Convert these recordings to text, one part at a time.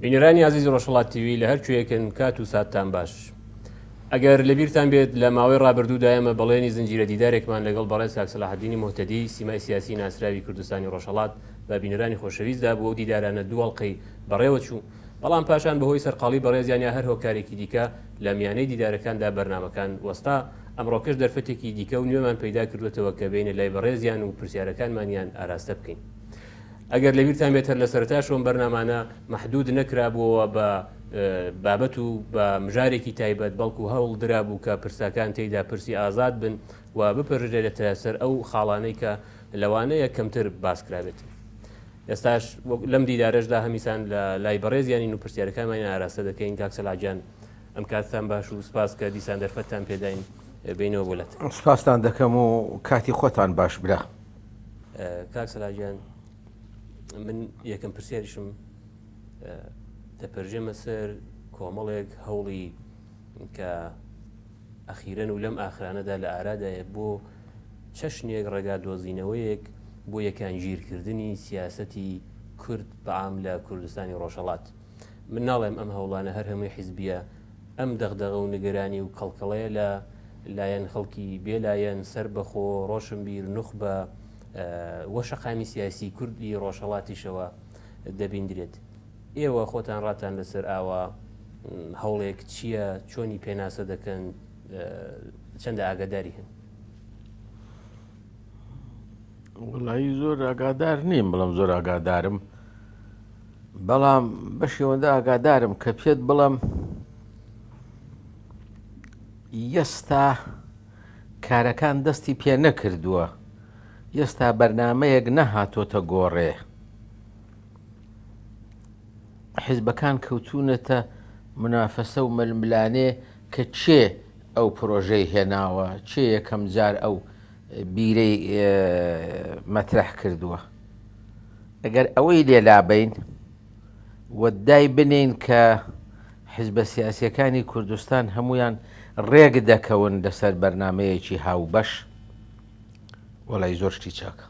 بینەرانی عزیزی ڕۆژهڵات تیوی لە هەرکوێکن کات و ساتان باش. ئەگەر لەبییران بێت لە ماوەی ڕابردوودا ئەمە بەڵێنی زنجیرە دیدارێکمان لەگەڵ بەڕێز کاکسەلاحدینی مهتەدی سیمای سیاسی ناسراوی کوردستانی ڕۆژهڵات بە بینەرانی خۆشەویستدا بووە و دیدارانە دووەڵقەی بەڕێوە چوو بەڵام پاشان بەهۆی سەرقاڵی بەڕێزیان یا هەر هۆکارێکی دیکە لە میانەی دیدارەکاندا بەرنمەکان وەستا ئەمڕۆکەش دەرفەتێکی دیکە و نوێمان پەیدا کردوێتەوە کە بینە لای بەڕێزیان و پرسیارەکانمانیان ئاراستە بکەین. ئەگەر لەبیرتان بێتەر لە سەرتاش ئەم بەرنمانە مححدود نەکرابووەوە بە بابەت و بە مژارێکی تایبەت بەڵکو هەوڵ درابوو کە پرساکان تێیدا پرسی ئازاد بن و بپەرژێتە سەر ئەو خاڵانەی کە لەوانەیە کەمتر باسکرابێت. ئێستاش لەم دیدارەشدا هەمیسان لە لای بەڕێزیانی و پرسیارەکانمان ئاراستە دەکەین کاکسەلاجان ئەم کاتتان باش و سپاس کە دیسان دەرفەتتان پێداین بینەوە بۆلات سپاستان دەکەم و کاتی خۆتان باش برا. کاک سەلاجان من یەکەم پرسیاریشم دەپەرژێمە سەر کۆمەڵێک هەوڵی کە ئەخیرەن و لەم ئاخرانەدا لە ئارادایە بۆ چەشنێک ڕێگا دۆزینەوەیەک بۆ یەکانگیرکردنی سیاسەتی کورد بەعام لە کوردستانی ڕۆژهڵات من ناڵێم ئەم هەوڵانە هەر هەمووی حیزبیە ئەم دەغدەغە و نگەرانی و کەڵکەڵەیە لە لایەن خەڵکی بێلایەن سەر بەخۆ ڕۆشنبیر نوخبە وە شەقامی سیاسی کوردی ڕۆژهڵاتیشەوە دەبیندرێت ئێوە خۆتان ڕاتان لەسەر ئاوا هەوڵێک چییە چۆنی پێناسە دەکەن چەندە ئاگاداری هەن وڵی زۆر ئاگادار نیم بڵم زۆر ئاگادارم بەڵام بەشێوەندە ئاگادارم کە پێت بڵم یستا کارەکان دەستی پێ نەکردووە یستا بەرنمەیەک نەهاتۆتە گۆڕێ حیزبەکان کەوتونەتە منافەسە و ململانێ کە چێ ئەو پرۆژەی هێناوە چێ یەکەم جار ئەو بیرەی مەترەح کردووە. ئەگەر ئەوەی لێ لابەین و دای بنێین کە حیزبە سیاسییەکانی کوردستان هەموویان ڕێک دەکەون لەسەر بەرنامەیەکی هاوبەش، وەڵای زۆر شتی چاکە.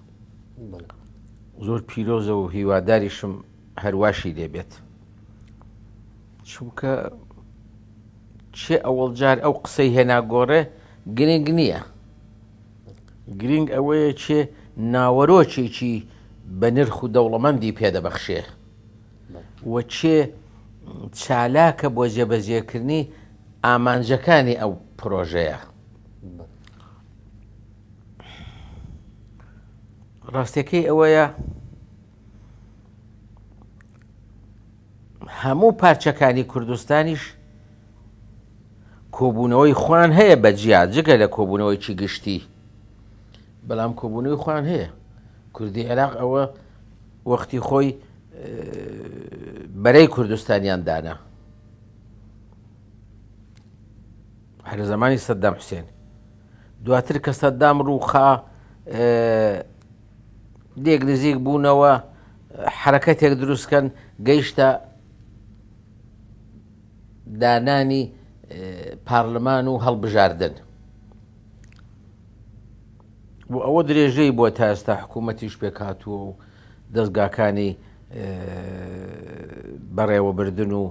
زۆر پیرۆزە و هیواداریشم هەر واشی لێ بێت. چونکە چێ ئەوەڵ جار ئەو قسەی هێنا گۆڕێ گرنگ نییە. گرینگ ئەوەیە کێ ناوەرۆکێکی بەنرخ و دەوڵەمەندی پێدەبەخشێ و کێ چالاکە بۆ جێبەجێکردنی ئامانجەکانی ئەو پرۆژەیە. ڕاستەکەی ئەوەیە هەموو پارچەکانی کوردستانیش کۆبوونەوەی خوان هەیە بە جیا جگە لە کۆبوونەوەیکی گشتی بەڵام کۆبوونەوەی خوان هەیە کوردی عێراق ئەوە وەختی خۆی بەرەی کوردستانیان دانا هەر زمانی سەددام حوسێن دواتر کە سەددام ڕووخا دێک نزیک بوونەوە حەرەکەتێک دروستکەن گەیشتە دانانی پارلمان و هەڵبژاردن و ئەوە درێژەی بۆ تا ئێستا حکوومەتیش پێکاتوە و دەستگاکانی بەڕێوەبردن و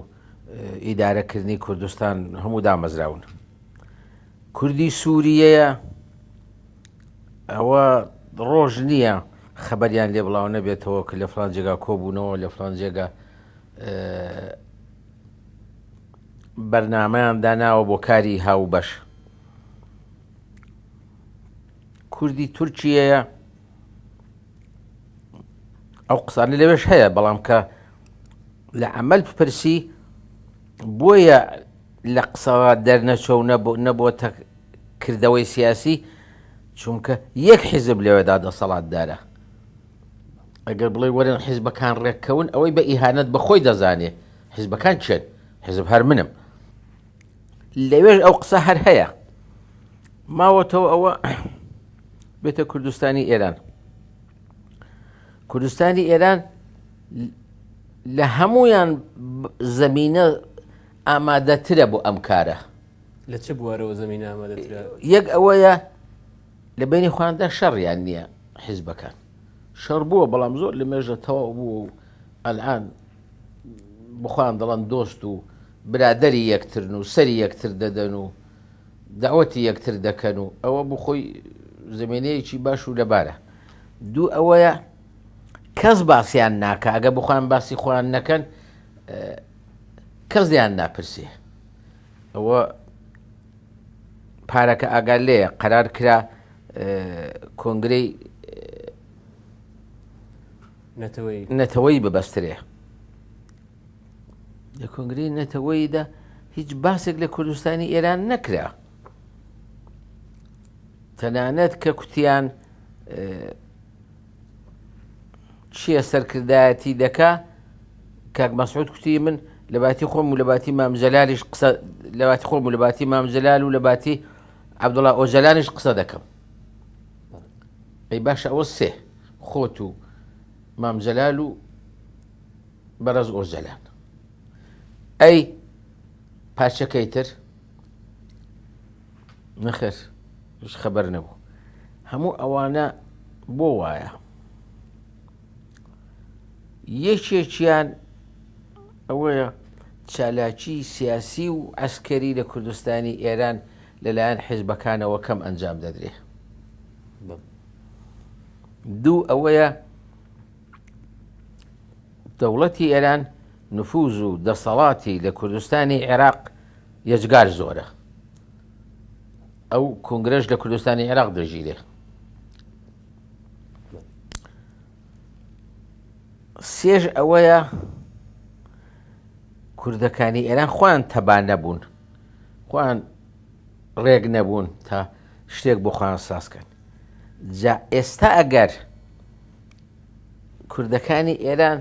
ئیدارەکردنی کوردستان هەموو دامەزراون کوردی سووریەیە ئەوە ڕۆژ نییە خەبەریان لێ بڵاو نەبێتەوە کە لە فلان جێگا کۆبوونەوە لە فلان جێگا بەرنمەیان داناوە بۆ کاری هاو بەش کوردی تورکیەیە ئەو قسانە لەوێش هەیە بەڵام کە لە عمل بپرسی بۆیە لە قسەوە دەرنەچوە و نەبووەتە کردەوەی سیاسی، چونکە یەک حیزب لەوێدا دەسەڵاتدارە. ئەگەر بڵێی وەرن حیزبەکان ڕێککەون، ئەوەی بە ئیهانەت بە خۆی دەزانێ حیزبەکان کێن؟ حیزب هەر منم. لەوێش ئەو قسە هەر هەیە. ماوەتەوە ئەوە بێتە کوردستانی ئێران. کوردستانی ئێران لە هەمویان زەمینە ئامادەترە بۆ ئەم کارە. لە چ بوارەوە زەمینە ئامادەترە؟ یەک ئەوەیە لە بەینی خۆیاندا شەڕیان نییە حیزبەکان. شەڕ بووە بەڵام زۆر لە مێژە تەواو بووە و ئەلعان بخۆیان دەڵەن دۆست و برادری یەکترن و سەری یەکتر دەدەن و داوەتی یەکتر دەکەن و ئەوە بخۆی زمینەیەکی باش و لەبارە. دوو ئەوەیە کەس باسیان ناکە ئەگە بخۆیان باسی خۆیان نەکەن، کەس لێیان ناپرسێ ئەوە پارەکە ئاگال لێە قەرار کرا کۆنگری نەتەوەی ببەسترێ لە کۆنگری نەتەوەیدا هیچ باسێک لە کوردستانی ئێران نەکرا تەنانەت کە کوتیان چیە سەرکردایەتی دەکا کاک مەسعود کوتی من لە باتی خۆم و لە باتی مامجلالیش قسە لە باتی خۆم و لە باتی مامجلال و لە باتی عبدڵ ئۆجلانیش قسە دەکەم ئەی باشە ئەوە سێ خۆت و مامجلال و بەڕز ئۆجلان ئەی پارچەکەی تر نەخێر هیچ خەبەر نەبوو هەموو ئەوانە بۆ وایە یەکێکیان ئەوەیە چالاکی سیاسی و ئەسکەری لە کوردستانی ئێران لەلایەن حیزبەکانەوە کەم ئەنجام دەدرێ دوو ئەوەیە دەوڵەتی ئێران نفوز و دەسەڵاتی لە کوردستانی عێراق یەجگار زۆرە. ئەو کۆنگرەش لە کوردستانی عێراق دەژیرێ. سێژ ئەوەیە کوردەکانی ئێران خۆیان تەبان نەبوون خۆیان ڕێک نەبوون تا شتێک بۆ خۆیان سازکەن جا ئێستا ئەگەر کوردەکانی ئێران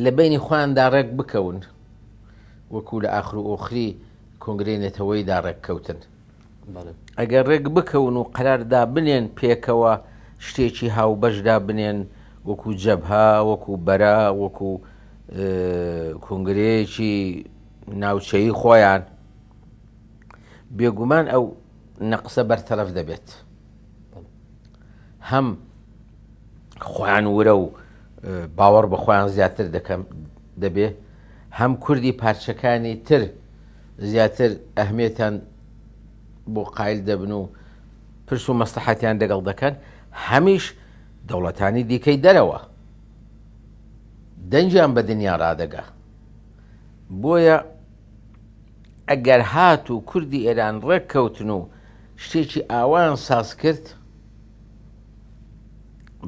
لە بەینی خۆیان دا ڕێک بکەون وەکو لە ئاخر و ئۆخری کۆنگرەی نەتەوەی دا ڕێک کەوتن ئەگەر ڕێک بکەون و قەرار دا بنێن پێکەوە شتێکی هاوبەشدا بنێن وەکو جەبها وەکو بەرە وەکو کۆنگرەیەکی ناوچەیی خۆیان بێگومان ئەو نەقسە بەرتەرەف دەبێت هەم خۆیان ورە و باوەڕ بە خۆیان زیاتر دەکەم دەبێ هەم کوردی پارچەکانی تر زیاتر ئەهمێتان بۆ قایل دەبن و پرس و مەسلحەتیان دەگەڵ دەکەن هەمیش دەوڵەتانی دیکەی دەرەوە دەنجیان بە دنیا ڕادەگا بۆیە ئەگەر هات و کوردی ئێران ڕێک کەوتن و شتێکی ئاوایان ساز کرد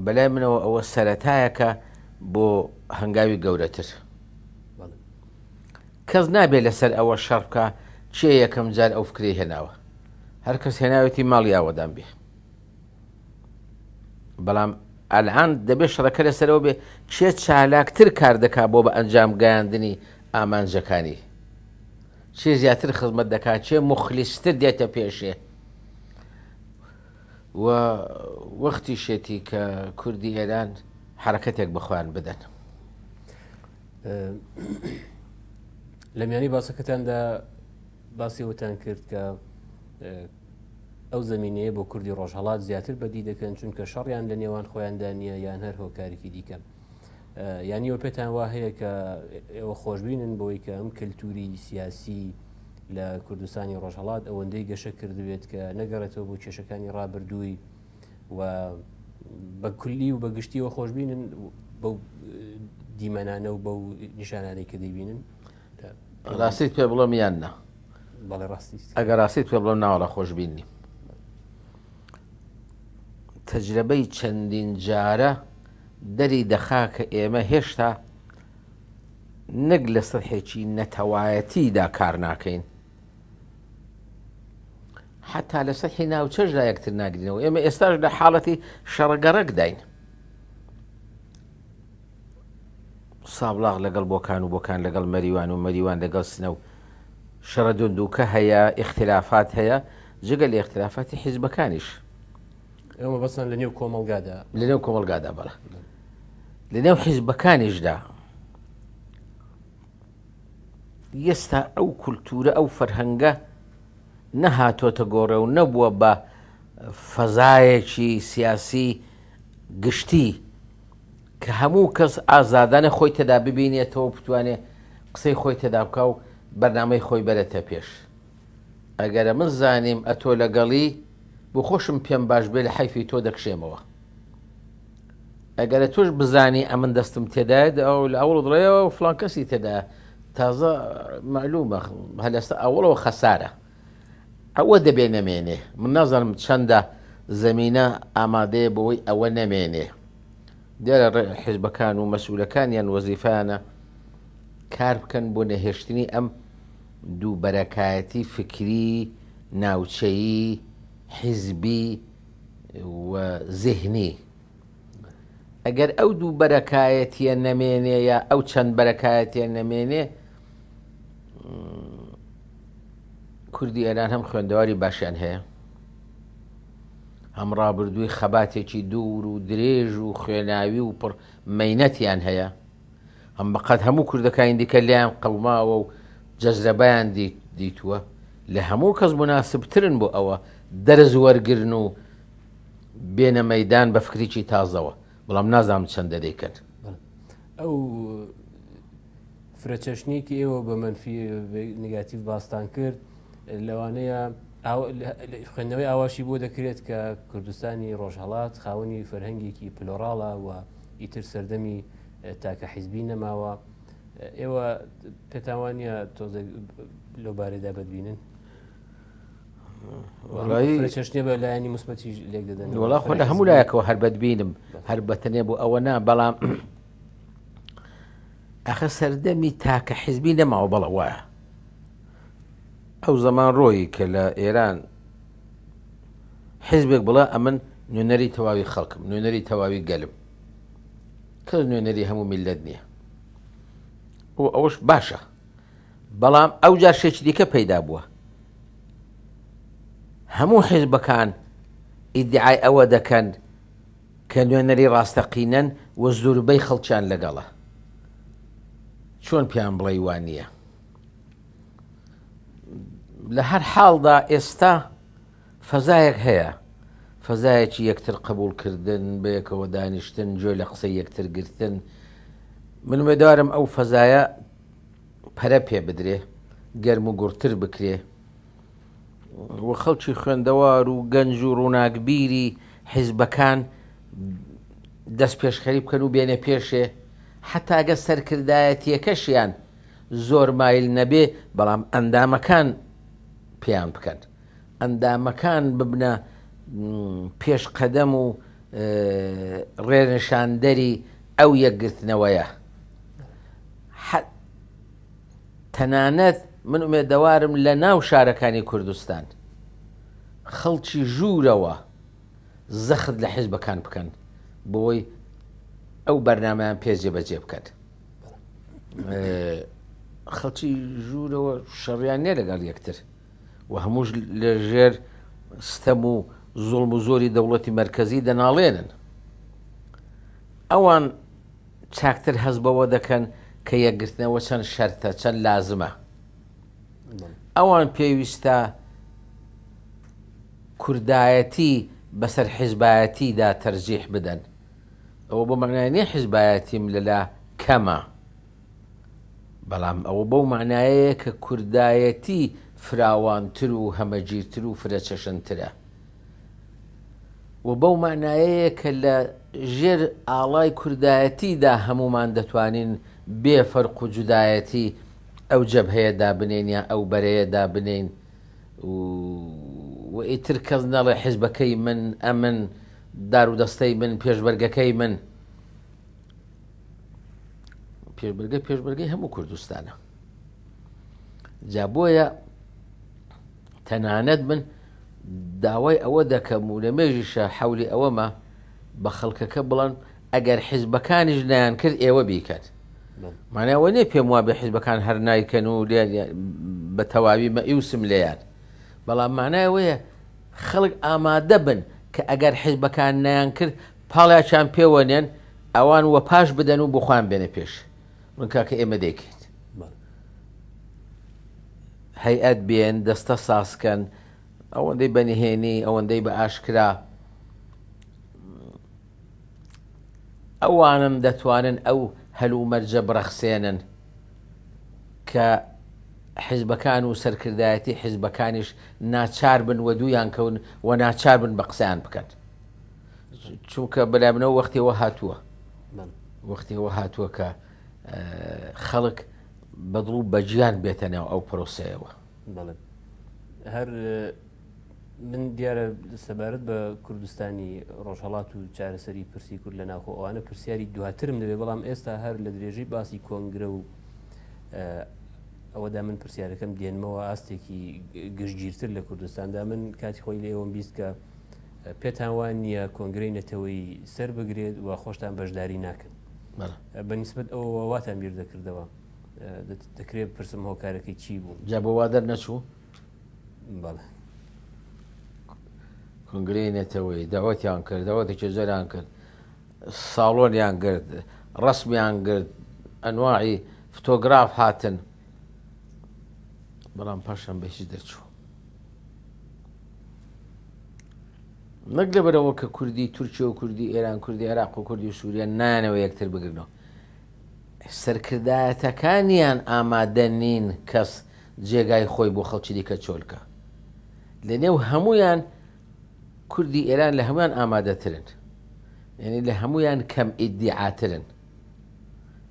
بەلای منەوە ئەوە سەتایەکە بۆ هەنگاوی گەورەتر کەس نابێت لەسەر ئەوە شەڕکە چێ یەکەم جار ئەو فکری هێناوە هەر کەس هێناوێتی ماڵی ئاوەدان بێ بەڵام ئەلان دەبێت شەڕەکە لەسەرەوە بێ چێ چالاکتر کار دەکا بۆ بە ئەنجام گەیاندنی ئامانجەکانی چێ زیاتر خزمەت دەکات چێ مخلیستر دێتە پێشێ و وەختیشێتی کە کوردی ئێران حەرەکەتێک بە خۆیان بدەن. لە میانی باسەکەتاندا باسی وتان کرد کە ئەو زمینەیە بۆ کوردی ڕۆژهڵات زیاتر بەدی دەکەن چونکە شەڕیان لە نێوان خۆیاندا نییە یان هەر هۆکارێکی دیکەن. یانی ئەوە پێتان وا هەیە کە ئێوە خۆشببینن بۆی کە ئەم کەلتوری سیاسی لە کوردستانی ڕۆژهڵات ئەوەندەی گەشە کردوێت کە نەگەڕێتەوە بۆ کێشەکانی ڕابردووی و بە کولی و بەگشتیەوە خۆشببینن بەو دیمەنانە و بەو نیشانانەی کە دەیبینن ڕاستیت پێ بڵم یان نە بەڵێ ڕاستی ئەگەر ڕاستیت پێ بڵم ناوەڵە خۆشببینی تەجربەی چەندین جارە دەری دەخا کە ئێمە هێشتا نەک لە سطحێکی نەتەوایەتیدا کار ناکەین، حەتا لە سطحی ناوچەشدا یەکتر ناگرینەوە، ئێمە ئێستاش لە حاڵەتی شەڕگەڕەکداین. سابڵاغ لەگەڵ بۆکان و بۆکان لەگەڵ مەریوان و مەریوان لەگەڵ سنە و شەڕە دوندووکە هەیە، ئیختیلافات هەیە، جگە لە ئیختیلافاتی حیزبەکانیش. ئێوە بەسەن لە نێو کۆمەلگادا لە نێو کۆمەلگادا بەڵە لە نێو حیزبەکانیشدا ئێستا ئەو کولتورە ئەو فەرهەنگە نەهاتۆتە گۆڕێ و نەبووە بە فەزایەکی سیاسی گشتی کە هەموو کەس ئازادانە خۆی تێدا ببینێتەوە بتوانێت قسەی خۆی تێدا بکە و بەرنمەی خۆی بەرێتە پێش ئەگەر ئەمن زانیم ئەتۆ لەگەڵی بو خۆشم پێم باش بێ لە حەیفی تۆ دەکشێمەوە ئەگەرە تۆش بزانی ئەمن دەستم تێدایە ئەو لە ئەوڵ دڵێەوە و فلان کەسی تێدا تازە معلومە هەلستا ئەوڵەوە خەسارە ئەوە دەبێ نەمێنێ من نازانم چەندە زمینە ئامادەیە بەوەی ئەوە نەمێنێ دیارە ڕێ حیزبەکان و مەسوولەکان یان وەزیفانە کار بکەن بۆ نەهێشتنی ئەم دووبەرەکایەتی فکری، ناوچەیی، حیزبی و زیهنی. ئەگەر ئەو دوو بەرەکایەتیە نەمێنێ یا ئەو چەند بەرەکایەتیە نەمێنێ کوردی ئێران هەم خوێندەواری باشیان هەیە، هەم ڕابردووی خەباتێکی دوور و درێژ و خوێناوی و پڕ مەینەتیان هەیە، هەم بەقەد هەموو کوردەکانی دیکە لێیان قەوماوە و جەزرەبیان دیتووە، لە هەموو کەس موناسبترن بۆ ئەوە دەرس وەرگرن و بێنە مەیدان بە فکرێکی تازەوە، بەڵام نازانم چەندە دەیکەن. ئەو فرەچەشنێکی ئێوە بە مەنفی نگاتیڤ باستان کرد لەوانەیە خوێندنەوەی ئاواشی بۆ دەکرێت کە کوردستانی ڕۆژهڵات خاوەنی فەرهەنگێکی پلۆراڵە و ئیتر سەردەمی تاکە حیزبی نەماوە ئێوە پێتاوانە تۆزێک لەو بارەدا ببینن چشتێ بە لایەنی مسبەتی لێک دەدەن وڵا خۆ لە هەموو لایەکەوە هەر بەدبینم هەر بەتەنێ بۆ ئەوە نا بەڵام ئەخە سەردەمی تاکە حیزبی نەماوە بەڵە وایە ئەو زەمان ڕۆیی کە لە ئێران حیزبێک بڵێ ئەمن نوێنەری تەواوی خەڵکم، نوێنەری تەواوی گەلم. کەس نوێنەری هەموو میللەت نییە. و ئەوەش باشە. بەڵام ئەوجا شێکی دیکە پەیدا بووە. هەموو حیزبەکان ئیدعای ئەوە دەکەن کە نوێنەری ڕاستەقینەن و زوربەی خەڵکیان لەگەڵە. چۆن پێیان بڵێی وا نییە؟ لە هەر حاڵدا ئێستا فەزایەک هەیە، فەزایەکی یەکتر قبوڵکردن، بەیەکەوە دانیشتن، گوێ لە قسەی یەکتر گرتن. من وێدارم ئەو فەزایە پەرە پێ بدرێ، گەرم و گوڕتر بکرێ. و خەڵکی خوێندەوار و گەنج و ڕووناکبیری حیزبەکان دەستپێشخەری بکەن و بێنە پێشێ، حەتاگە سەرکردایەتیەکەشیان زۆر مایل نەبێ بەڵام ئەندامەکان پێیان بکەن ئەندامەکان ببنە پێش قەدەم و ڕێنشاندەری ئەو یەکگرتنەوەیە تەنانەت من ئومێدەوارم لە ناو شارەکانی کوردستان خەڵکی ژوورەوە زەخت لە حیزبەکان بکەن بۆی ئەو بەرنمەیان پێێ بەجێ بکەن خەڵکی ژوورەوە شەڕیان نێ لەگەڵ یەکتر و هەمووش لە ژێر ستەم و زۆڵم و زۆری دەوڵەتی مرکزی دەناڵێنن ئەوان چاکتر هەز بەوە دەکەن کە یەکگرتنەوە چەند شەرتە چەند لازمە ئەوان پێویستە کوردایەتی بەسەر حیزبایەتیدا تەرجیح بدەن ئەوە بۆ مەعنای نیە حیزبایەتیم لەلا کەمە بەڵام ئەوە بەو معنایەیە کە کوردایەتی فراوانتر و هەمەگیرتر و فرەچەشنترە و بەو معنایەیە کە لە ژێر ئاڵای کوردایەتیدا هەمومان دەتوانین بێ فەرق و جودایەتی ئەو جەبهەیە دابنین یا ئەو بەرەیە دابنین و و ئیتر کەس نەڵێ حیزبەکەی من ئەمن دارو دەستەی من پێشبەرگەکەی من پێشبەرگە پێشبەرگەی هەموو کوردستانە جا بۆیە تەنانەت من داوای ئەوە دەکەم و لە مێژیشە حولی ئەوەمە بە خەڵکەکە بڵند ئەگەر حیزبەکانیش نیان کرد ئێوە بیکات مانەوە نێ پێم وا بە حیزبەکان هەر نایکەن و بە تەواوی مەئیوسم لێیان بەڵام مانایەوەیە خەڵک ئامادە بن کە ئەگەر حیزبەکان نەیانکرد پاڵیاچان پێوە نێن ئەوان وە پاش بدەن و بۆ خۆیان بێنە پێش ڕونکە کە ئێمە دەیکەین هەیئەت بێن دەستە سازکەن ئەوەندەی بە نهێنی ئەوەندەی بە ئاشکرا ئەوانم دەتوانن ئەو هەلومەرجە بڕەخسێنن کە حزبەکان و سەرکردایەتی حزبەکانیش ناچار بن و دوویان کەون و ناچار بن بە قسەیان بکەن چونکە بەلای منەوە وەختەوە هاتووە وەختەوە هاتووە کە خەڵک بەدڵ و بەجیان بێتە ناو ئەو پرۆسەیەوە هەر من دیارە سەبارەت بە کوردستانی ڕۆژهڵات و چارەسەری پرسی کورد لە ناخۆ ئەوانە پرسیاری دواترم دەبێ بەڵام ئێستا هەر لە درێژەی باسی کۆنگرە و ئەوەدا من پرسیارەکەم دێنمەوە ئاستێکی گشتگیرتر لە کوردستاندا من کاتی خۆی لێوەم بیست کە پێتان وان نییە کۆنگرەی نەتەوەی سەر بگرێت و خۆشتان بەشداری ناکەن بەنیسبت ئەو واتان بیر دەکردەوە دەکرێت پرسم هۆکارەکەی چی بوو جا بۆ وا دەرنەچوو بەڵێ کنگرەی نەتەوەی داوەتیان کرد داوەتی چێزەران کرد ساڵۆنیان گرت ڕسمیان گرت ئەنواعی فتۆگراف هاتن بەڵام پاشان بەهی دەرچوو نەک لەبەرەوە کە کوردی تورکیا و کوردی ئێران کوردی عێراق و کوردی سووریا نانەوە یەکتر بگرنەوە سەرکردایەتەکانیان ئامادە نین کەس جێگای خۆی بۆ خەڵکی دیکە چۆل کا. لە نێو هەموویان کوردی ئێران لە هەموویان ئامادەترن. یانی لە هەموویان کەم ئیدیعاترن.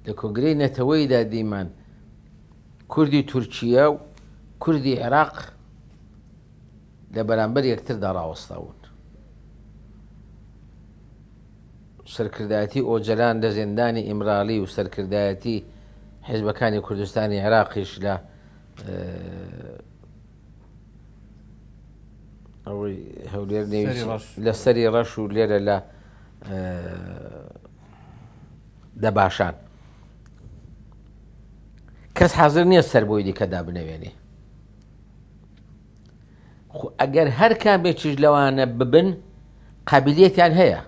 لە کۆنگرەی نەتەوەیدا دیمان کوردی تورکیە و کوردی عێراق لە بەرامبەر یەکتردا ڕاوەستاون. سەرکردایەتی ئۆجەلان لە زیندانی ئیمرالی و سەرکردایەتی حیزبەکانی کوردستانی عێراقیش لە ئەوەی هەولێر لە سەری ڕەش و لێرە لە دەباشان کەس حەزر نییە سەر بۆی دیکەدا بنەوێنێ خۆ ئەگەر هەر کامێکیش لەوانە ببن قابلیەتیان هەیە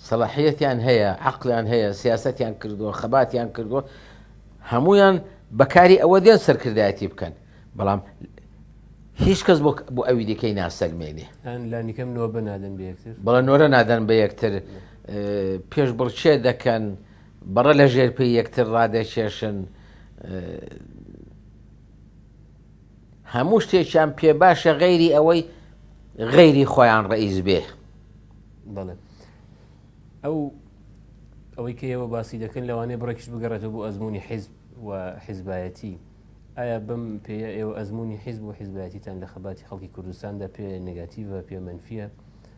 سەڵاحیەتیان هەیە عقلیان هەیە سیاستیان کردووە خەباتیان کردووە هەمویان بەکاری ئەوە دێن سەرکردایەتی بکەن بەڵام هیچ کەس بۆ ئەوی دیکەی ناسەلمێنێ لانیکەم نۆ بە نادەن بەکتر بەڵە نۆرە نادەن بە یەکتر پێش بڵچێ دەکەن بەڕە لە ژێر پێی یەکتر ڕادەکێشن هەموو شتێکیان پێ باشە غەیری ئەوەی غەیری خۆیان ڕئیز بێ بەڵێ ئەو ئەوەی کە ئێوە باسی دەکەن لەوانەیە بڕێکش بگەڕێتەوە بۆ ئەزمموی حیزب و حیزبایەتی ئایا بم پێ ئێوە ئەزمموی حیزب و حیزبایەتیتان لە خەباتی خەڵکی کوردستاندا پێ نگاتیڤە پێ منفە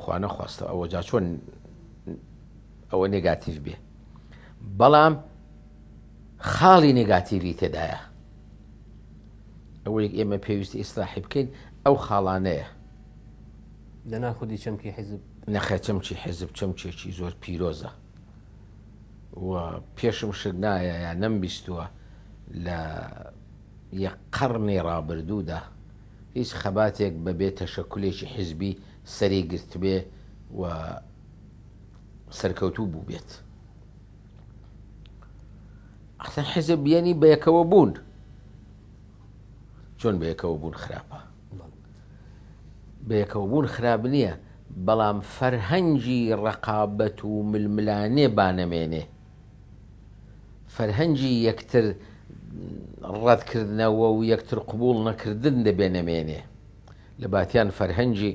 خوا نەخواستە ئەوە جا چۆن ئەوە نێگاتیڤ بێ بەڵام خاڵی نێگاتیڤی تێدایە ئەوەیەک ئێمە پێویستی ئیسلاحی بکەین ئەو خاڵانەیە لەنا خودی چەمکی حیزب نەخە چەمکی حیزب چەمکێکی زۆر پیرۆزە و پێشم شت نایە یا نەمبیستووە لە یە قەڕنی ڕابردوودا هیچ خەباتێک بە بێ تەشەکولێکی حیزبی سەری گرتبێ و سەرکەوتوو بووبێت. ئەخسەن حیزب یەنی بەیەکەوە بوون چۆن بەیەکەوە بوون خراپە بەیەکەوە بوون خراپ نییە بەڵام فەرهەنگی ڕقابەت و ململانێ بانەمێنێ فەرهەنگی یەکتر ڕەتکردنەوە و یەکتر قبوڵ نەکردن دەبێ نەمێنێ، لە باتیان فەرهەنگی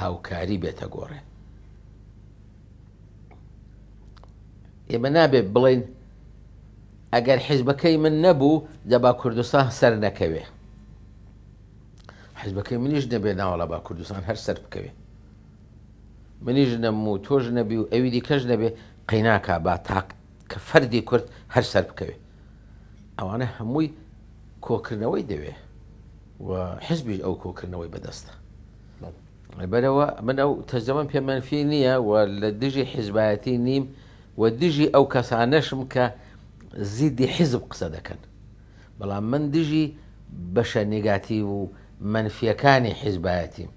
هاوکاری بێتە گۆڕێ. ئێمە نابێ بڵێین ئەگەر حیزبەکەی من نەبوو دەبا کوردستان سەر نەکەوێ. حیزبەکەی منیش نەبێ ناوەڵا با کوردستان هەر سەر بکەوێ. منیش نەبم و تۆش نەبی و ئەوی دیکەش نەبێ قەیناکا با تاک کە فەردی کورد هەر سەر بکەوێ ئەوانە هەمووی کۆکردنەوەی دەوێ و حزبیش ئەو کۆکردنەوەی بەدەستە بەرەوە من ئەو تەزەمەم پێ منفی نییە و لە دژی حیزبایەتی نیم و دژی ئەو کەسانەشم کە زیدی حیزب قسە دەکەن بەڵام من دژی بەشە نگاتی و منفیەکانی حیزبایەتیم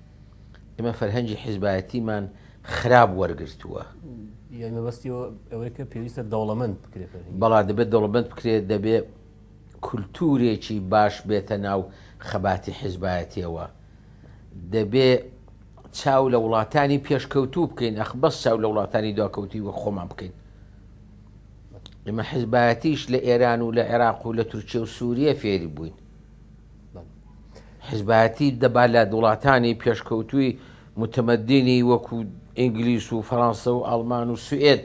ئێمە فەرهەنگی حیزبایەتیمان خراپ وەرگتووە مەبەستی ئەوەی کە پێویستە دەوڵەمەند بکرێت بەڵا دەبێت دەوڵەمەند بکرێت دەبێت کولتورێکی باش بێتە ناو خەباتی حیزبایەتیەوە دەبێ چاو لە وڵاتانی پێشکەوتوو بکەین ئەخ بەس چاو لە وڵاتانی دواکەوتی وە خۆمان بکەین ئمە حزبایەتیش لە ئێران و لە عێراق و لە تورکیە و سووریە فێری بووین حیزبایەتی دەبا لە وڵاتانی پێشکەوتووی موتەمەدینی وەکو ئینگلیس و فەرانسە و ئاڵمان و سوئێد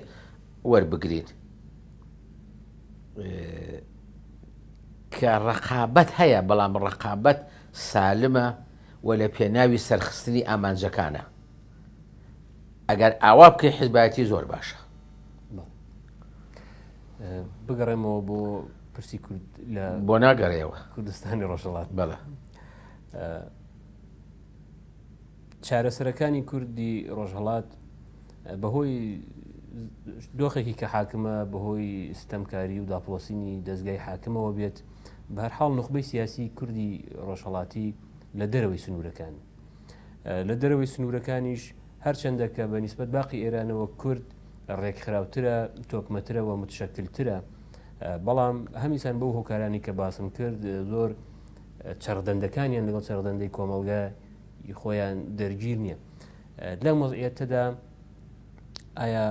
وەربگرین کە ڕقابەت هەیە بەڵام ڕقابەت سالمە و لە پێناوی سەرخستنی ئامانجەکانە ئەگەر ئاوا بکەی حزبایەتی زۆر باشە بگەڕێمەوە بۆ پرسی کورد لە بۆ ناگەڕێەوە کوردستانی ڕۆژەڵات بەڵە چارەسەرەکانی کوردی ڕۆژهڵات بەهۆی دۆخێکی کە حاکمە بەهۆی ستەمکاری و داپۆسینی دەستگای حاکمەوە بێت بەرحاڵ نخبەی سیاسی کوردی ڕۆژهڵاتی لە دەرەوەی سنوورەکان لە دەرەوەی سنوورەکانیش هەرچەندە کە بە نیسبەت باقی ئێرانەوە کورد ڕێکخراوترە تۆکمەترە و متشکلترە بەڵام هەمیسان بەو هۆکارانی کە باسم کرد زۆر چڕدەندەکانیان لەگەڵ چڕدەندەی کۆمەلگای خۆیان دەرگیر نییە لەم وەزعەتەدا ئایا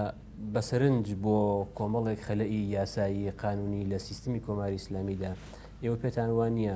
بەسەرنج بۆ کۆمەڵێک خەلەئی یاسایی قانونی لە سیستمی کۆماری ئسلامیدا ئێوە پێتان وان نییە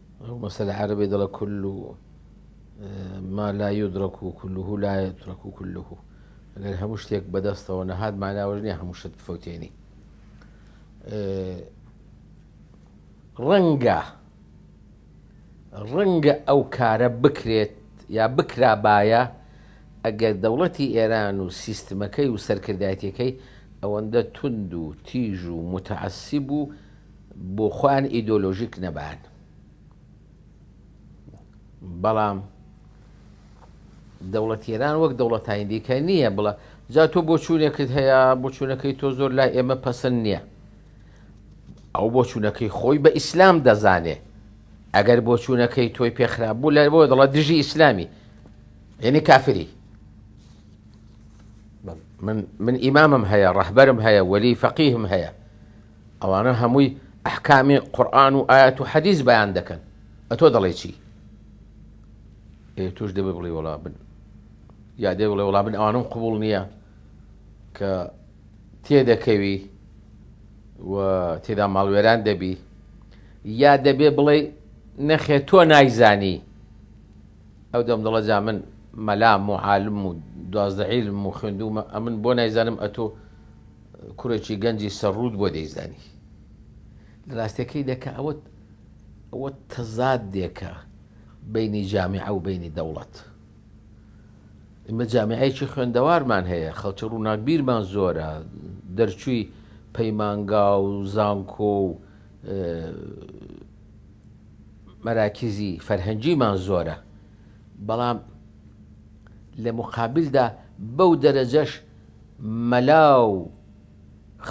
وەک مەسەلە عەرەبی دەڵێ کل و ما لا یدرک و کله لا یترک و کله ئەگەر هەموو شتێک بەدەستەوە نەهات ماناوەژ نیە هەموو شت بفەوتێنی ڕەنگە ڕەنگە ئەو کارە بکرێت یا بکرابایە ئەگەر دەوڵەتی ئێران و سیستمەکەی و سەرکردایەتەکەی ئەوەندە تونند و تیژ و متعسیب و بۆ خۆیان ئیدۆلۆژیک نەبان بەڵام دەوڵەت ئێران وەک دەوڵەتانی دیکە نییە بڵە جا تۆ بۆ چوونێکت هەیە بۆ چوونەکەی تۆ زۆر لای ئێمە پەسەند نییە ئەو بۆ چوونەکەی خۆی بە ئیسلام دەزانێ ئەگەر بۆ چوونەکەی تۆی پێخراب بوو لای بۆ دەڵە دژی ئیسلامی یعنی کافری من ئیمامم هەیە ڕەهبەرم هەیە وەلی فەقیهم هەیە ئەوانە هەمووی ئەحکامی قورئان و ئایەت و حەدیس بەیان دەکەن ئەتۆ دەڵێ چی؟ ئێ توش دەبێ بڵێ وڵا بن یا دێ بڵێ وڵا بن ئەوانم قوبول نییە کە تێدەکەوی و تێدا ماڵوێران دەبی یا دەبێ بڵێ نەخێ تۆ نایزانی ئەو دەم دڵە جا من مەلام و عالم و دوازدە عیلم و خوێندومە ئەمن بۆ نایزانم ئەتۆ کوڕێکی گەنجی سەرڕووت بۆ دەیزانی لە راستەکەی دەکە ئەوە ئەوە تەزاد دێکە بینی جامیعە و بینی دەوڵەت ئمە جامیعەیەکی خوێندەوارمان هەیە خەڵکی ڕووناکبیرمان زۆرە دەرچووی پەیمانگا و زانکۆ و مەراکزی فەرهەنگیمان زۆرە بەڵام لە مقابلدا بەو دەرەجەش مەلا و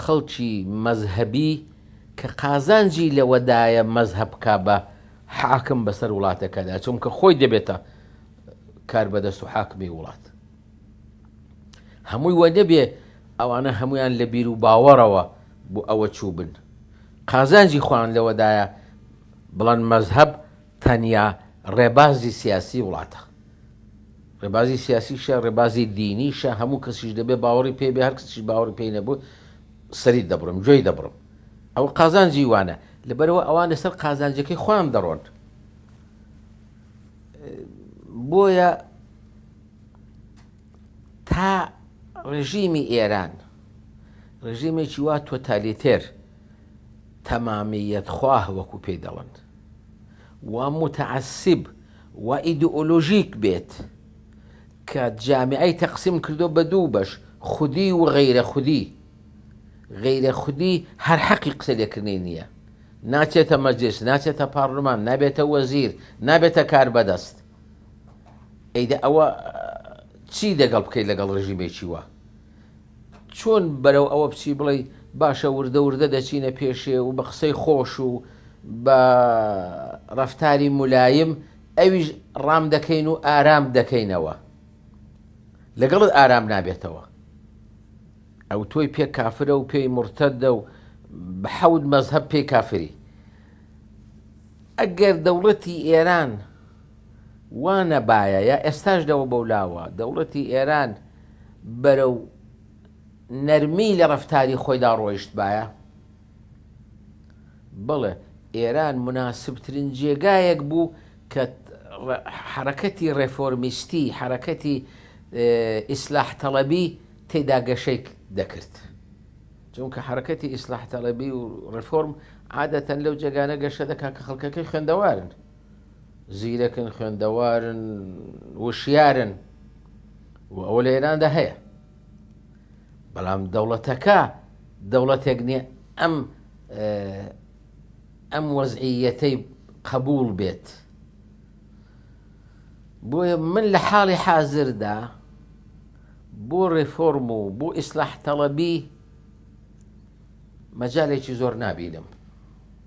خەڵکی مەزهەبی کە قازانجی لەوەدایە مەزهەب بکا بە حاکم بەسەر وڵاتەکەدا، چونکە خۆی دەبێتە کاربەدەست و حاکمی وڵات. هەمووی وە نەبێ ئەوانە هەمویان لە بیر و باوەڕەوە بۆ ئەوە چووبن. قازانجی خۆیان لەوەدایە بڵێن مەزهەب تەنیا ڕێبازی سیاسی وڵاتە. ڕێبازی سیاسیشە، ڕێبازی دینیشە، هەموو کەسیش دەبێ باوەڕی پێی بێ، هەر کەسیش باوەڕی پێی نەبوو سەری دەبڕم، گوێی دەبڕم. ئەوە قازانجی وانە. لەبەرئەوە ئەوان لەسەر قازانجەکەی خۆیان دەڕۆن. بۆیە تا ڕێژیمی ئێران ڕێژیمێکی وا تۆتالیتێر، تەمامییەت خواه وەکو پێی دەڵێن و موتەعەسیب و ئیدئۆلۆژیک بێت کە جامعەی تەقسیم کردووە بە دوو بەش خودی و غەیرە خودی غەیرە خودی هەر حەقی قسە لێکردنی نییە ناچێتە مەجلیس ناچێتە پارلمان نابێتە وەزیر نابێتە کاربەدەست ئەی دە ئەوە چی دەگەڵ بکەیت لەگەڵ ڕژیمێکی وا؟ چۆن بەرەو ئەوە بچی بڵێی باشە وردە وردە دەچینە پێشێ و بە قسەی خۆش و بە ڕەفتاری مولاییم ئەویش ڕام دەکەین و ئارام دەکەینەوە لەگەڵت ئارام نابێتەوە ئەو تۆی پێ کافرە و پێی مرتدە و بە حەود مەزهب پێی کافری ئەگەر دەوڵەتی ئێران وا نەبایە یا ئێستاش لەوە بەولاوە دەوڵەتی ئێران بەرەو نەرمی لە ڕەفتاری خۆیدا ڕۆیشتبایە؟ بەڵێ ئێران موناسبترین جێگایەک بوو کە حەرەکەتی ڕێفۆرمیستی، حەرەکەتی ئیسلاح تەڵەبی تێدا گەشەی دەکرد. چونکە حەرەکەتی ئیسلاح تەڵەبی و ڕێفۆرم عادەتەن لەو جێگانە گەشە دەکات کە خەڵکەکەی خوێندەوارن. زیرەکن خوێندەوارن وشیارن و ئەوە لە ئێراندا هەیە بەڵام دەوڵەتەکە دەوڵەتێک نییە ئەم ئەم وەزعیەتەی قبول بێت بۆیە من لە حاڵی حازردا بۆ ڕێفۆرم و بۆ ئیسلاح تەڵەبی مەجالێکی زۆر نبینم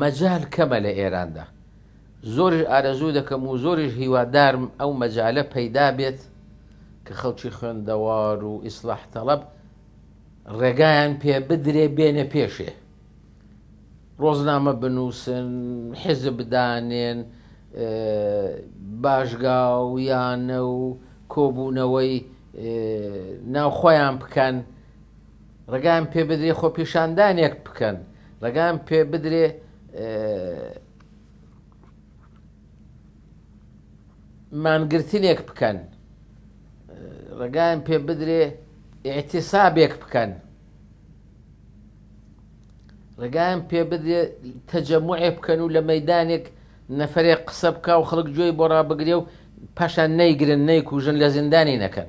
مەجال کەمە لە ئێراندا زۆرش ئارەزوو دەکەم و زۆریش هیوادارم ئەو مەجالە پەیدا بێت کە خەڵکی خوێندەوار و ئیسلاح تەڵەب ڕێگایان پێ بدرێ بێنە پێشێ ڕۆزنامە بنووسن حزب بدانێن باشگا و یانە و کۆبوونەوەی ناوخۆیان بکەن ڕێگایان پێ بدرێ خۆپیشاندانێک بکەن، ڕێگایان پێ بدرێ مانگرتنێک بکەن، ڕێگایان پێ بدرێ ئیعتیسابێک بکەن، ڕێگایان پێ بدرێ تەجەموعێ بکەن و لە مەدانێک نەفرێک قسە بکە و خەڵک گوێی بۆ ڕابگرێ و پاشان نەیگرن نەیکوژن لە زیندانی نەکەن.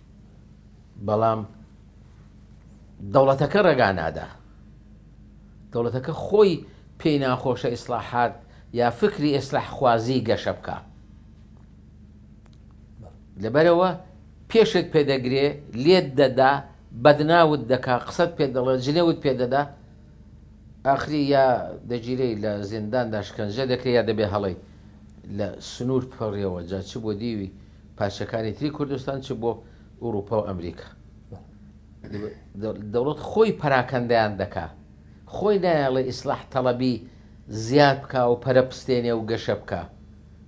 بەڵام دەوڵەتەکە ڕێگا نادا دەوڵەتەکە خۆی پێی ناخۆشە ئیسلاحات یا فکری ئێسلاح خوازی گەشە بکە لەبەرەوە پێشت پێدەگرێ لێت دەدا بەدناوت دەکا قسەت پێ دەڵێت جلێوت پێ دەدا ئاخری یا دەگیری لە زینداندا شکنجە دەکرێت یا دەبێ هەڵی لە سنوور پڕێەوە جا چ بۆ دیوی پارچەکانی تری کوردستان چ بۆ ئوروپا و ئەمریکا دەوڵەت خۆی پەراکەندیان دەکا خۆی نایەڵێ ئیسلاح تەڵەبی زیاد بکا و پەرە پستێنێ و گەشە بکە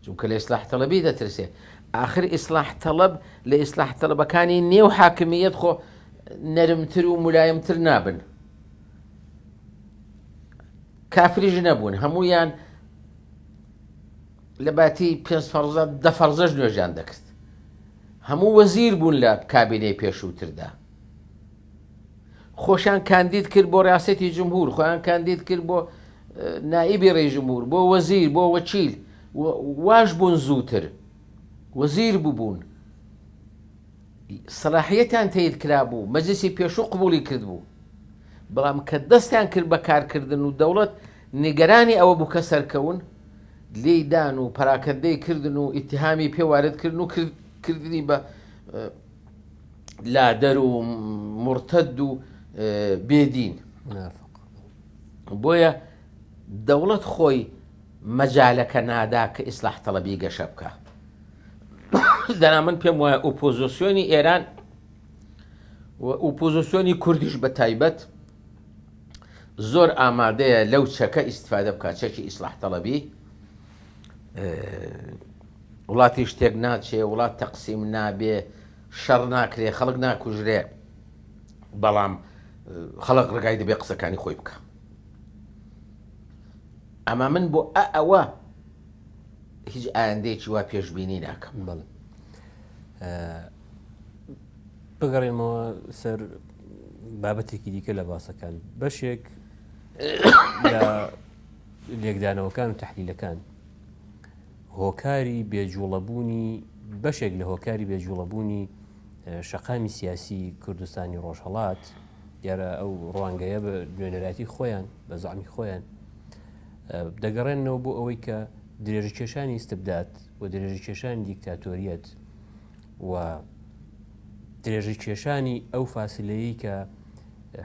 چونکە لە ئیسلاح تەڵەبی دەترسێ آخر ئیسلاح تەڵەب لە ئیسلاح تەڵەبەکانی نێو حاکمیت خۆ نەرمتر و ملایمتر نابن کافریش نەبوون هەمویان لە باتی پێنج فەرزە دە فەرزەش نوێژیان دەکرد هەموو وەزیر بوون لە کابینەی پێشووتردا خۆشیان کاندید کرد بۆ ڕاستێتی جمهور خۆیان کاندید کرد بۆ نائیبی ڕێژمور بۆ وەزیر بۆ وەچیل واش بوون زووتر وەزیر ببوون سەلاحیەتیان تەیید کرابوو، مەجلیسی پێشوو قبوڵی کردبوو، بەڵام کە دەستیان کرد بە کارکردن و دەوڵەت نیگەرانی ئەوە بوو کە سەرکەون، لێی دان و پەراکەندەی کردن و ئیتیهامی پێ وارد کردن و کردنی بە لادەر و موڕتەد و بێ دین. بۆیە دەوڵەت خۆی مەجالەکە نادا کە ئیسلاح تەڵەبی گەشە بکا دەنا من پێم وایە ئۆپۆزۆسیۆنی ئێران و ئوپۆزۆسیۆنی کوردیش بە تایبەت زۆر ئامادەیە لەو چەکە ئیسفادە بکە چەکی ئیسلاح تەڵەبی وڵاتی شتێک ناچێ وڵات تەقسیم نابێ شەڕ ناکرێ خەڵک ناکوژرێ بەڵام خەڵک ڕگای دەبێ قسەکانی خۆی بکە ئەما من بۆ ئە ئەوە هیچ ئایندەیەکی وا پێشببینی ناکەم بڵ بگەڕێنمەوە سەر بابەتێکی دیکە لە باسەکان بەشێک لێکدانەوەکان و تحلیلەکان هۆکاری بێجوڵەبوونی بەشێک لە هۆکاری بێجوڵەبوونی شەقامی سیاسی کوردستانی ڕۆژهڵات دیارە ئەو ڕوانگەیە بە نوێنەرایەتی خۆیان بە زعامی خۆیان دەگەڕێنەوە بۆ ئەوەی کە درێژ کێشانی استبدات و درێژ کێشانی دیکتاتۆریەت و درێژ کێشانی ئەو فاسلەیە کە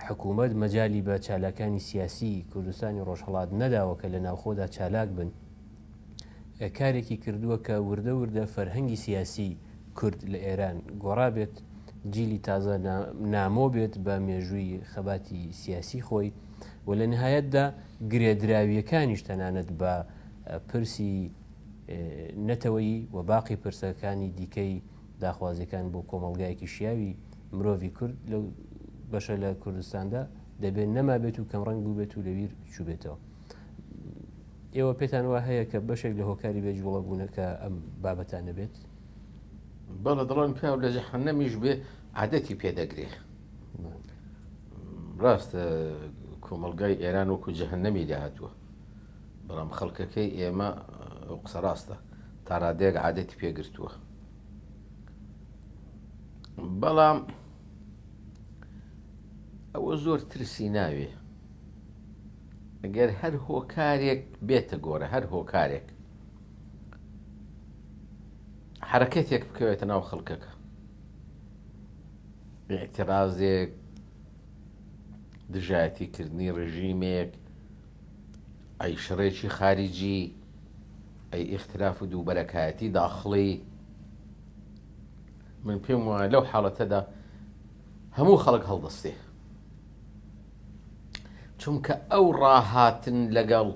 حکوومەت مەجای بە چالاکانی سیاسی کوردستانی ڕۆژهڵات نەداوە کە لە ناوخۆدا چالاک بن کارێکی کردووە کە وردە وردە فەرهەنگی سیاسی کورد لە ئێران گۆڕابێت جیلی تازە نامۆ بێت بە مێژووی خەباتی سیاسی خۆی و لە نهایەتدا گرێدراویەکانیش تەنانەت بە پرسی نەتەوەی و باقی پرسەکانی دیکەی داخوازیەکان بۆ کۆمەلگایەکی شیاوی مرۆڤی کورد لەو بەشە لە کوردستاندا دەبێت نەمابێت و کەمڕنگ بووبێت و لەویر چوبێتەوە. ئێوە پێتان وا هەیە کە بەشێک لە هۆکاری بێ جوڵە بوونەکە ئەم بابەتانە بێت؟ بەڵێ دەڵێن پیاو لە جەحەنەمیش بێ عادەتی پێدەگرێ ڕاستە کۆمەلگای ئێران وەکو جەهنەمی داهاتووە بەڵام خەڵکەکەی ئێمە قسە ڕاستە تا ڕادێک عادەتی پێگرتووە بەڵام ئەوە زۆر ترسی ناوێ گەر هەر هۆکارێک بێتە گۆرە هەر هۆکارێک حرەکەتێک بکەوێتە ناو خەڵکەکە ئاعترازێک دژایەتیکردنی ڕژیمێک ئەی شڕێکی خارجی ئەی ئیختلاف و دووبەرەکایەتی داخڵی من پێم وایە لەو حاڵەتەدا هەموو خەڵک هەڵدەستێ چونکە ئەو ڕاهاتن لەگەڵ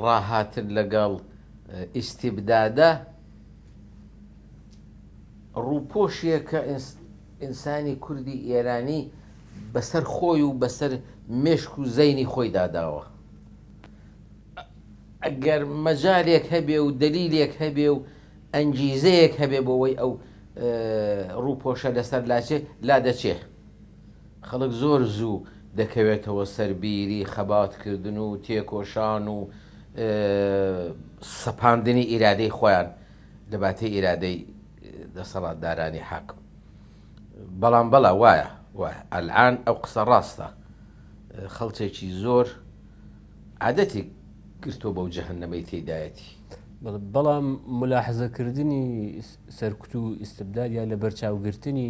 ڕاهاتن لەگەڵ ئیسیبدادە ڕووپۆشیەکە ئینسانی کوردی ئێرانی بەسەر خۆی و بەسەر مێشک و زەینی خۆی داداوە ئەگەر مەجارێک هەبێ و دلیلێک هەبێ و ئەنگیزەیەک هەبێ بۆەوەی ئەو ڕووپۆشە لەسەر لاچێ لا دەچێ خەڵک زۆر زوو دەکەوێتەوە سەر بیری خەباتکردن و تێکۆشان و سەپاندنی ئیرادەی خۆیان لە باتەی ئیرادەی دەسەڵاتدارانی حاکم. بەڵام بەڵا وایە وایە ئەلعان ئەو قسە ڕاستە خەڵچێکی زۆر عادەتی گرتۆ بەو جەهنەمەی تێدایەتی. بەڵام ملاحزەکردنی سەرکوت و ئیسبداد یا لە بەرچاوگرتنی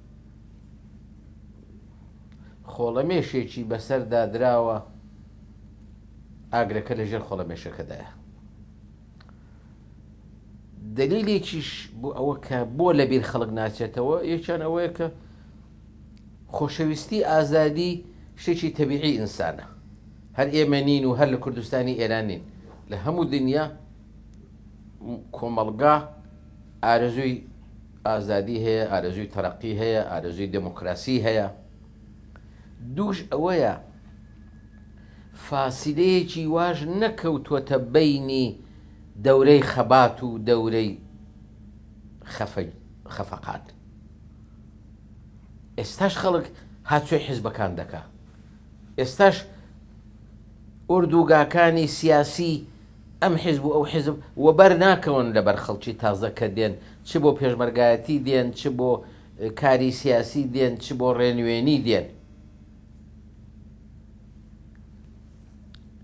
خۆڵەمێشێکی بەسەردا دراوە ئاگرەکە لە ژێر خۆڵەمێشەکەدایە دلیلێکیش بۆ ئەوە کە بۆ لە بیر خەڵک ناچێتەوە یەکیان ئەوەیە کە خۆشەویستی ئازادی شتێکی تەبیعی ئینسانە هەر ئێمە نین و هەر لە کوردستانی ئێران نین لە هەموو دنیا کۆمەڵگا ئارزوی ئازادی هەیە ئارەزوی تەرەقی هەیە ئارەزوی دێمۆکراسی هەیە دووش ئەوەیە فاسیلەیەکی واش نەکەوتوەتە بەینی دەورەی خەبات و دەورەی خەفەقان ئێستاش خەڵک هاچۆی حیزبەکان دەکا ئێستاش ئۆردوگاکانی سیاسی ئەم حیزب و ئەو حیزب وەبەر ناکەون لەبەر خەڵکی تازە کە دێن چ بۆ پێشمەرگایەتی دێن چ بۆ کاری سیاسی دێن چ بۆ ڕێنوێنی دێن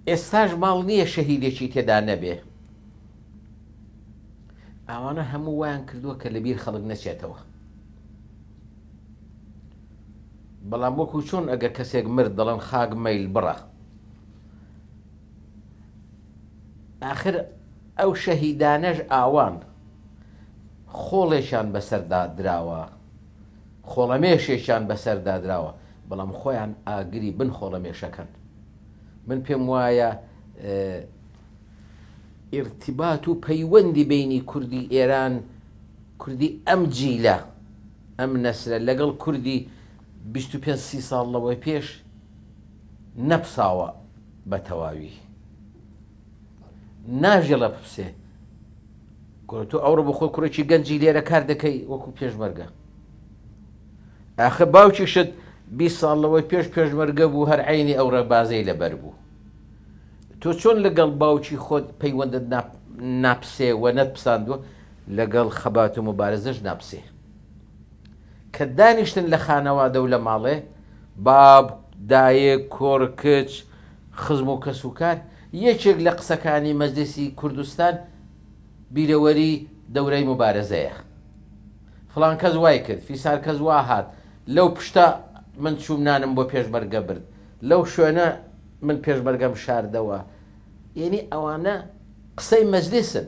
ئێستاش ماڵ نییە شەهیدێکی تێدا نەبێ ئەوانە هەموو وایان کردووە کە لەبیر خەڵک نەچێتەوە بەڵام وەکو چۆن ئەگەر کەسێک مرد دەڵێن خاک مەیل بڕە ئاخر ئەو شەهیدانەش ئاوان، خۆڵێکیان بەسەردا دراوە، خۆڵەمێشێکیان بەسەردا دراوە، بەڵام خۆیان ئاگری بن خۆڵەمێشەکەن. من پێم وایە ئیرتیبات و پەیوەندی بینی کوردی ئێران، کوردی ئەم جیلە، ئەم نەسلە لەگەڵ کوردی بیست و پێنج سی ساڵ لەوەی پێش، نەپساوە بەتەواوی ناژێڵە بپسێ گۆرە تۆ ئەوڕۆ بەخۆ کوڕێکی گەنجی لێرە کار دەکەی وەکو پێشمەرگە ئاخە باوکی شت بی ساڵ لەوەی پێش پێشمەرگە بوو هەر عینی ئەو ڕێبازەی لەبەر بوو تۆ چۆن لەگەڵ باوکی خۆت پەیوەندت ناپسێ و نەت پساندوە لەگەڵ خەبات و مبارزش ناپسێ کە دانیشتن لە خانەوادە و لە ماڵێ، باب، دایک، کوڕ، کچ، خزم و کەسوکار، یەکێک لە قسەکانی مەجلیسی کوردستان بیرەوەری دەورای موبارەزەیە. فڵان کەس وای کرد، فیسار کەس وا هات، لەو پشتە من چووم نانم بۆ پێشمەرگە برد، لەو شوێنە من پێشمەرگەم شاردەوە، یەنی ئەوانە قسەی مەجلیسن.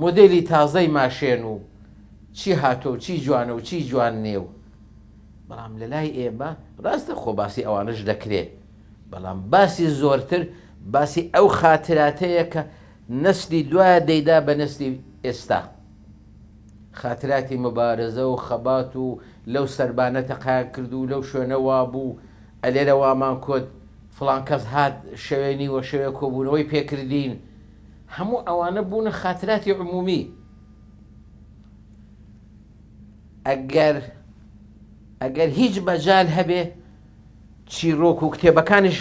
مۆدێلی تازەی ماشێن و چی هاتوە و چی جوانە و چی جوان نیە و بەڵام لە لای ئێمە ڕاستە خۆ باسی ئەوانەش دەکرێ بەڵام باسی زۆرتر باسی ئەو خاتراتەیە کە نەسلی دوا دەیدا بە نەسلی ئێستا خاتراتی مبارزە و خەبات و لەو سەربانە تەقایان کرد و لەو شوێنە وابوو ئەلێرە وامان کوت فڵان کەس هات شەوێ نیوە شەوێ کۆبوونەوەی پێکردین هەموو ئەوانە بوونە خاتراتی عمومی. ئەگەر ئەگەر هیچ مەجال هەبێ چیرۆک و کتێبەکانیش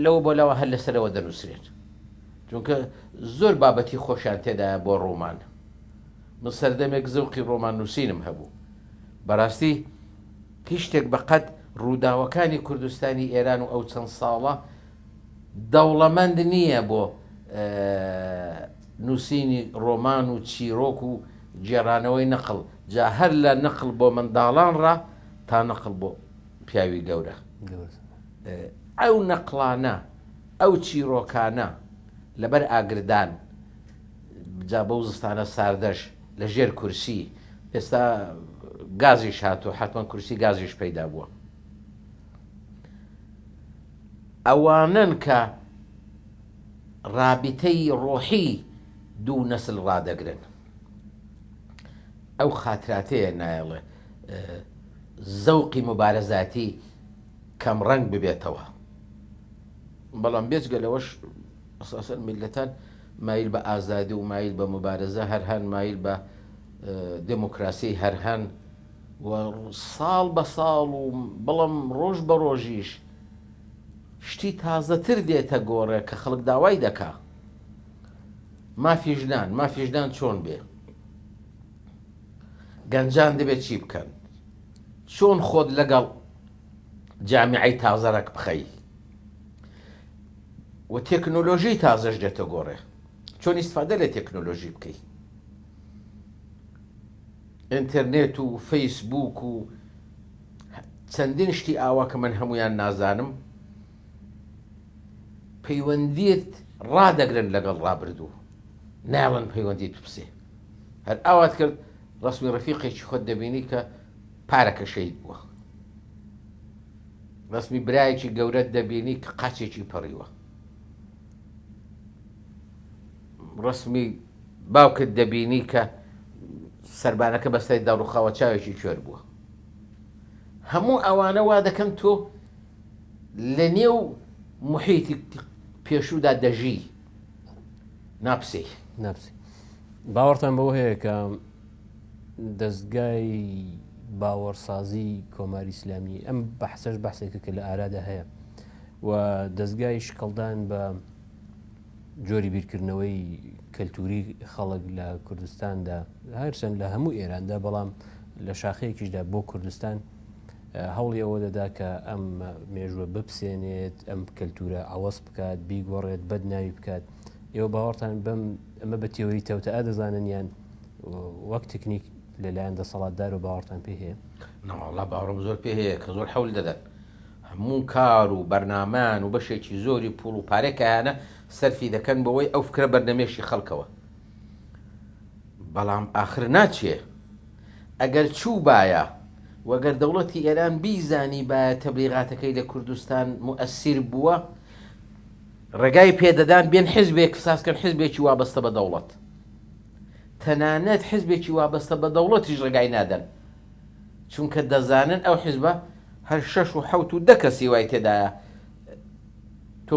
لەوە بۆ لەوە هەر لەسەرەوە دەنووسرێت. چونکە زۆر بابەتی خۆشیان تێدایە بۆ ڕۆمان. من سەردەمێک زەوقی ڕۆمان نووسینم هەبوو. بەڕاستی هیچ شتێک بەقەد ڕووداوەکانی کوردستانی ئێران و ئەو چەند ساڵە، دەوڵەمەند نییە بۆ نووسینی ڕۆمان و چیرۆک و گێڕانەوەی نەقڵ، جا هەر لە نەقڵ بۆ منداڵان ڕا تا نەقڵ بۆ پیاوی گەورە. ئەو نەقڵانە، ئەو چیرۆکانە لەبەر ئاگردان، جا بەو زستانە ساردەش لە ژێر کورسی، ئێستا گازیش هاتووە حەتمەن کورسی گازیش پەیدا بووە. ئەوانەن کە ڕابیتەی ڕۆحی دوو نەسل ڕادەگرن. ئەو خاتراتەیە نایەڵێ زەوقی موبارەزاتی کەم ڕەنگ ببێتەوە. بەڵام بێجگە لەوەش ئەساسەن میللەتان مایل بە ئازادی و مایل بە موبارەزە هەر هەن، مایل بە. دێمۆکراسیی هەر هەن و ساڵ بە ساڵ و بەڵام ڕۆژ بە ڕۆژیش شتی تازەتر دێتە گۆڕێ کە خەڵک داوای دەکا. مافی ژنان، مافی ژنان چۆن بێ؟ گەنجان دەبێت چی بکەن؟ چۆن خۆت لەگەڵ جامیعەی تازەرەک بخەی؟ و تێکنۆلۆژیی تازەش دێتە گۆڕێ. چۆن ئیستفادە لە تێکنۆلۆژی بکەی ئینترنێت و فەیس بووک و چەندین شتی ئاوا کە من هەمویان نازانم پەیوەندیت ڕادەگرن لەگەڵ ڕابردوو ناڵن پەیوەندیت بپسێ هەر ئاوات کرد ڕسمی ڕفیقێکی خۆت دەبینی کە پارەکە شەید بووە ڕسمی برایەکی گەورەت دەبینی کە قاچێکی پەڕیوە ڕەسمی باوکت دەبینی کە سەربانەکە بەسەر دەڕوخاوە چاوێکی کوێر بووە هەموو ئەوانە وا دەکەن تۆ لە نێو محیتی پێشودا دەژی ناپسی ناپسی باوەڕتان بەوە هەیە کە دەزگای باوەڕسازی کۆماری ئیسلامی ئەم بەحسەش بەحسێکە کە لە ئارادا هەیە و دەزگای شکڵدان بە جۆری بیرکردنەوەی کەلتوری خەڵک لە کوردستاندا هەرچەند لە هەموو ئێراندا بەڵام لە شاخەیەکیشدا بۆ کوردستان هەوڵی ئەوە دەدا کە ئەم مێژوە بپسێنێت ئەم کەلتورە ئاوەز بکات بیگۆڕێت بەد ناوی بکات ئێوە باوەڕتان بەم ئەمە بە تێوەری تەوتە دەزانن یان وەک تکنیک لەلایەن دەسەڵاتدار و باوەڕتان پێ هەیە؟ نەواڵا باوەڕم زۆر پێ هەیە کە زۆر حەول دەدەن هەموو کار و بەرنامان و بەشێکی زۆری پوڵ و پارەی کایانە سەرفی دەکەن بەوەی ئەو فکرە بەرنەمێشی خەڵکەوە بەڵام ئاخر ناچێ ئەگەر چوو بایە وەگەر دەوڵەتی ئێران بیزانی بایە تەبلیغاتەکەی لە کوردستان موئسیر بووە ڕێگای پێدەدان بێن حزبێک سازکەن حزبێکی وابەستە بە دەوڵەت تەنانەت حزبێکی وابەستە بە دەوڵەتیش ڕێگای نادەن، چونکە دەزانن ئەو حزبە هەر شەش و حەوت و دە کەسی وای تێدایە تۆ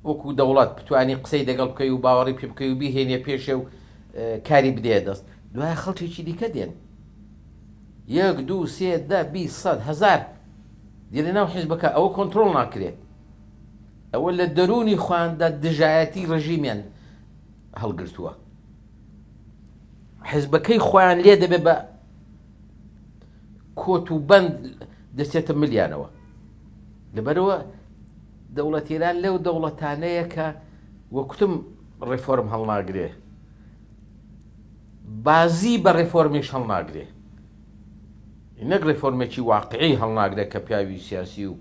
وەکو دەوڵەت بتانی قسەی دەگەڵ بکەی و باوەڕی پێ بکەی و بیهێنێ پێشێ و کاری بدەیە دەست، دوای خەڵکێکی دیکە دێن یەک دوو سێ دە بیست سەد هەزار دێنە ناو حزبەکە ئەوە کۆنترۆڵ ناکرێت، ئەوە لە دەروونی خۆیاندا دژایەتی ڕژیمیان. هەڵگرتووە حزبەکەی خۆیان لێ دەبێ بە کۆت و بەند دەچێتە ملیانەوە لەبەرەوە دەوڵەتیران لەو دەوڵەتانەیە کە وەکتم ڕێفۆرم هەڵناگرێ بازی بە ڕێفۆرمیش هەڵناگرێ نەک ڕێفۆرمێکی واقعی هەڵناگرێت کە پیاوی سیاسی و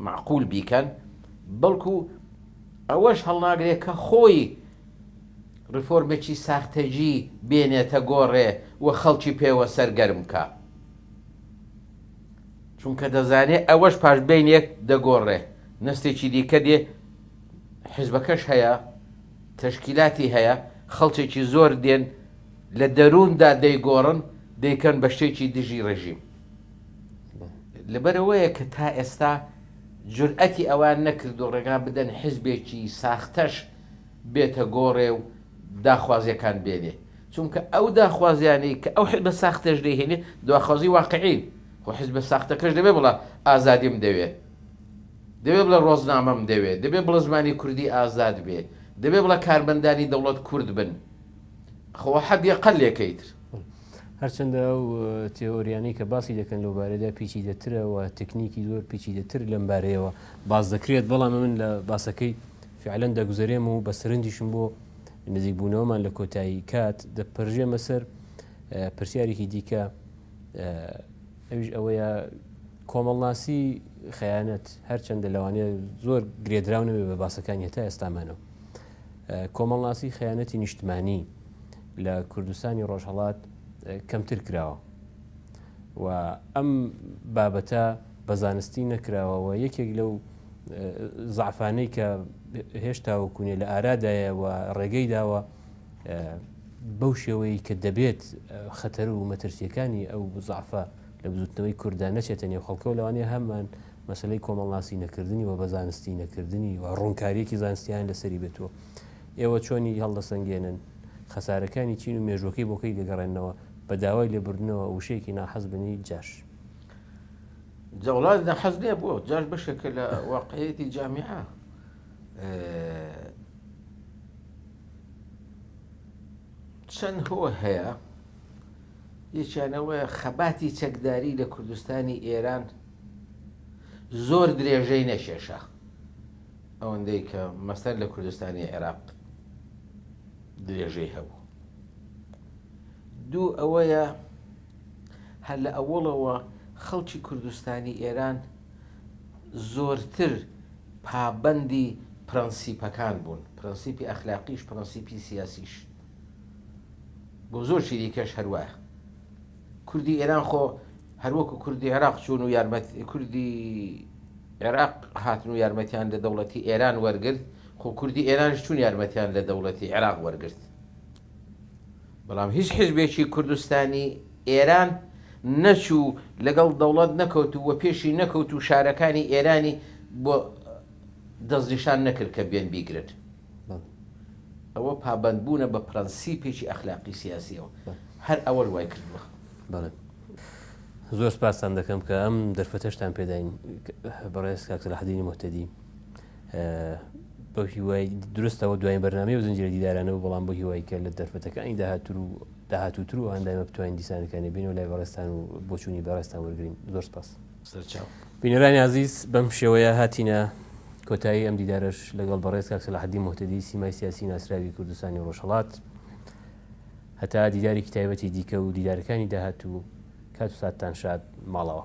معقول بیکەن بەڵکو ئەوەش هەڵناگرێ کە خۆی ڕفۆرمێکی ساختەجی بێنێتە گۆڕێ و خەڵکی پێوە سەرگەرم بکا. چونکە دەزانێ ئەوەش پاش بەینێک دەگۆڕێ، نەستێکی دیکە دێ، حیزبەکەش هەیە، تەشکیلاتی هەیە، خەڵکێکی زۆر دێن لە دەرووندا دەیگۆڕن، دەیکەن بە شتێکی دژی ڕێژیم. لەبەرئەوەیە کە تا ئێستا جورئەتی ئەوەیان نەکردووە ڕێگا بدەن حزبێکی ساختەش بێتە گۆڕێ و داخوازییەکان بێنێ، چونکە ئەو داخوازیانەی کە ئەو حزبە ساختەش دەیهێنێ داخوازی واقعین، خۆ حزبە ساختەکەش دەبێ بڵا ئازادیم دەوێ، دەبێ بڵێ ڕۆزنامەم دەوێ، دەبێ بڵێ زمانی کوردی ئازاد بێ، دەبێ بڵێ کارمەندانی دەوڵەت کورد بن، خۆ وە حەدی ئەقەلێکەیتر. هەرچەندە ئەو تێۆریانی کە باسی دەکەن لەو بارەدا پیچی دەترەوە تەکنیکی زۆر پیچی دەتر لەم بارەیەوە باز دەکرێت بەڵام من لە باسەکەی فعلەن دەگوزارێم و بە سرنجیشم بۆ نزیکبوونەوەمان لە کۆتایی کات دەپەرژێمە سەر پرسیارێکی دیکە ئەوش ئەوەیە کۆمەڵناسی خیانەت هەرچەندە لەوانەیە زۆر گرێدراونەوێ بە باسەکانی هەتا ئێستامانەوە کۆمەڵناسی خەیانەتی نیشتمانی لە کوردستانی ڕۆژهڵات کەمتر کراوە و ئەم بابەتە بە زانستی نەکراوەوە یەکێک لەو زعفانەی کە هێشتا و کوونێ لە ئارادایە و ڕێگەی داوە بەو شێوەیە کە دەبێت خەتەر و مەترسیەکانی ئەو زعفە لە بزوتنەوەی کووردا نەچێتە نێو خەڵکەوە لەوانەیە هەمان مەسەلەی کۆمەڵناسی نەکردنی و بە زانستی نەکردنی و ڕوونکاریەکی زانستیان لەسەری بێتوە ئێوە چۆنی هەڵدەسەنگێنن خەسارەکانی چین و مێژوەکەی بۆکەی دەگەڕێنەوە بە داوای لێبردنەوە وشەیەکی ناحەز بنی جاش جەڵات نەحەز نیە بۆ جاش بەشێکە لە واقعەتی جامیعە چەند هۆ هەیە یەکیانەوەە خەباتی چەکداری لە کوردستانی ئێران زۆر درێژەی نەکێشا ئەوەندەی کە مەسەر لە کوردستانی عێراق درێژەی هەبوو دوو ئەوەیە هەر لە ئەوڵەوە خەڵکی کوردستانی ئێران زۆرتر پابەندی پرەنسیپەکان بوون پرەنسیپی ئەخلاقیش پرەنسیپی سیاسیش بۆ زۆر شیریکەش هەروایە کوردی ئێران خۆ هەر وەکو کوردی عێراق چوون و یارمەت کوردی عێراق هاتن و یارمەتیان لە دەوڵەتی ئێران وەرگرت خۆ کوردی ئێرانش چوون یارمەتیان لە دەوڵەتی عێراق وەرگرت بەڵام هیچ حزبێکی کوردستانی ئێران نەچوو لەگەڵ دەوڵەت نەکەوت و وە پێشی نەکەوت و شارەکانی ئێرانی بۆ دەستنیشان نەکرد کە بێن بیگرن بەڵێ. ئەوە پابەندبوونە بە پرەنسیپێکی ئەخلاقی سیاسییەوە. هەر ئەوەش وای کردووە. بەڵێ. زۆر سپاستان دەکەم کە ئەم دەرفەتەشتان پێداین بەڕێز کاک سەلاحەدینی موهتەدی. بەو هیوای درستەوە دوایین بەرنامەی و زنجیرە دیدارانەوە بەڵام بۆ هیوای کە لە دەرفەتەکانی داهاتوو و داهاتووتر و هەندایمە بتوانین دیسانەکانی بینەوە لای بەڕێزتان و بۆچوونی بەڕێزتان وەرگرین. زۆر سپاس. سەرچاو. بینەرانی ئازیز بەم شێوەیە هاتینە کۆتایی ئەم دیدارەش لەگەڵ بەڕێز کاک سەلاحەدین موهتەدی سیمای سیاسی ناسراوی کوردستانی و ڕۆژهەڵات هەتا دیدارێکی تایبەتی دیکە و دیدارەکانی داهاتوو کات و ساتتان شاد ماڵەوە